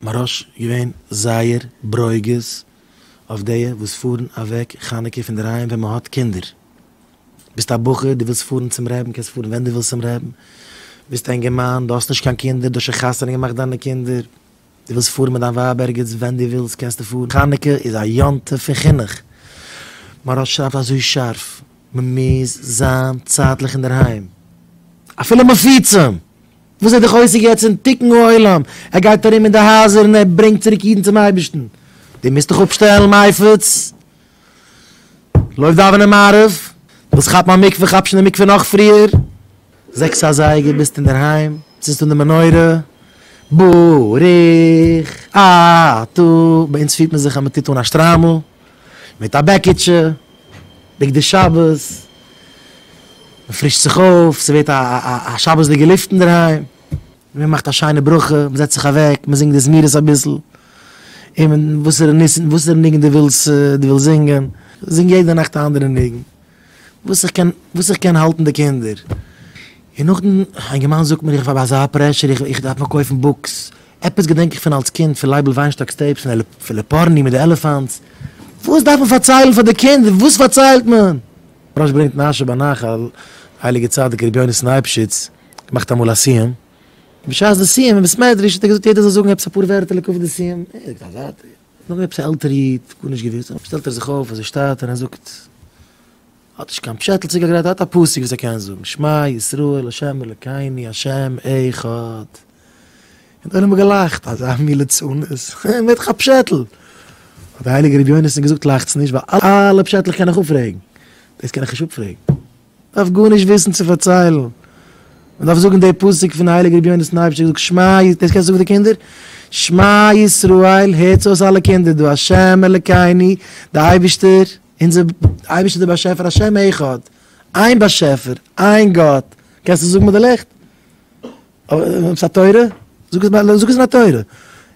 מרעש געווען זייער ברוגז אויף דיע וואס פארן אוועק חנוכה פון דערהיים ווען מען האט קינדער. ביסט א בחור, דו ווילסט פארן צום רעבין, קענסט פארן ווען דו ווילסט צום רעבין. ביסט א אינגערמאן, דו האסט נישט קיין קינדער, דו האסט שוין חתונה געמאכט דיינע קינדער, דו ווילסט פארן מיט דיין ווייב ערגעץ ווען דו ווילסט קענסטו פארן. חנוכה איז א יום טוב פון חינוך. מרעש שרייבט אזוי שארף, מען מוז זיין צייטליך אינדערהיים אפילו מפוצים! וואס איז דער חוזק יעצט אין תיקון העולם? ער גייט ארום אין די הייזער און ער ברענגט צוריק אידן צום אייבערשטן. דו מוזט דיך אפשטעלן מייפעץ, לויף דאווענען מעריב, ווילסט כאפן א מקווה כאפ שוין די מקווה נאך פריער, זעקס אזייגער ביסטו אינדערהיים, צינדסט אן די מנורה, ברוך אתה, ביי אונז פירט מען זיך אז מען טוט אן א שטריימל. מיט א בעקיטשע, בגדי שבת, מען פרישט זיך אויף, ס'ווערט א שבת'דיגע לופט אינדערהיים, מען מאכט א שיינע ברכה, מען זעצט זיך אוועק, מען זינגט די זמירות אביסל, און וואסערע ניגון דו ווילסט זינגען, זינג יעדע נאכט א אנדערע ניגון, וואס איך קען וואס איך קען האלטן די קינדער, און נאכדעם אינגערמאן זאגט מיר איך האב אזא פרעשור איך איך דארף נאר קויפן בוקס, עפעס געדענק איך פון אלס קינד פון לייבל וויינשטאק'ס טעיפס פון עלעפ פון לעפארני מיט די עלעפאנטס, וואס דארף מען פארציילן פאר די קינדער וואס פארציילט מען? רש י ברענגט נשר בנחל, הייליגער צדיק רבי יונתן אייבשיץ מאכט אמאל א סיום, בשעת די סיום אין בית מדרש האט ער געזאגט יעדער זאל זאגן עפעס אפאר ווערטער לקראת די סיום, נאך עפעס א עלטערע איד, גארנישט געוויסט, און עפעס שטעלט ער זיך אויף אזוי שטאט און ער זאגט, האט נישט קיין פשעטל צוגעגרייט, ער האט א פסוק וואס ער קען זאגן, שמע ישראל השם אלקינו השם אחד, און די עולם האט געלאכט, אזא מין ליצנות, ווער האט דיך א פשעטל? האט דער הייליגער רבי יונתן געזאגט, לאכטס נישט, ווייל אלע פשעטלעך קען איך אפפרעגן, דאס קען איך נישט אפפרעגן. מ'דארף גארנישט וויסן צו פארציילן, מ'דארף זאגן די פסוק פון הייליגער רבי יונה סנייפשטיק זאגט שמע י, דאס קענסטו זאגן די קינדער? שמע ישראל, הערטס אויס אלע קינדער, דו השם אלקינו, די אייבערשטער, אונזער אייבערשטער דער באשעפער השם אחד, איין באשעפער, איין גאט, קענסט עס זאגן מיט די לופט? אבער עפעס א תורה? זאג עס מיט א תורה.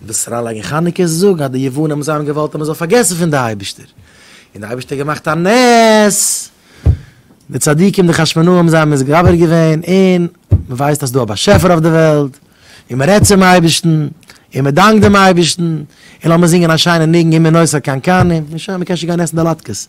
און דאס אריינלייגן חנוכה איז זאגן אז די יוונים האבן זיי האבן געוואלט אז מען זאל פארגעסן פון די אייבערשטער, און די אייבערשטער האט געמאכט א נס, די צדיקים די חשמונאים האבן זיי מתגבר געווען, און מען ווייסט אז ס'איז דא א באשעפער אויף די וועלט, און מען רעדט צום אייבערשטן, און מען דאנקט דעם אייבערשטן, און לאמיר זינגען א שיינע ניגון אם מנוס הקנקנים, און שוין, מען קען שוין גיין עסן די לאטקעס.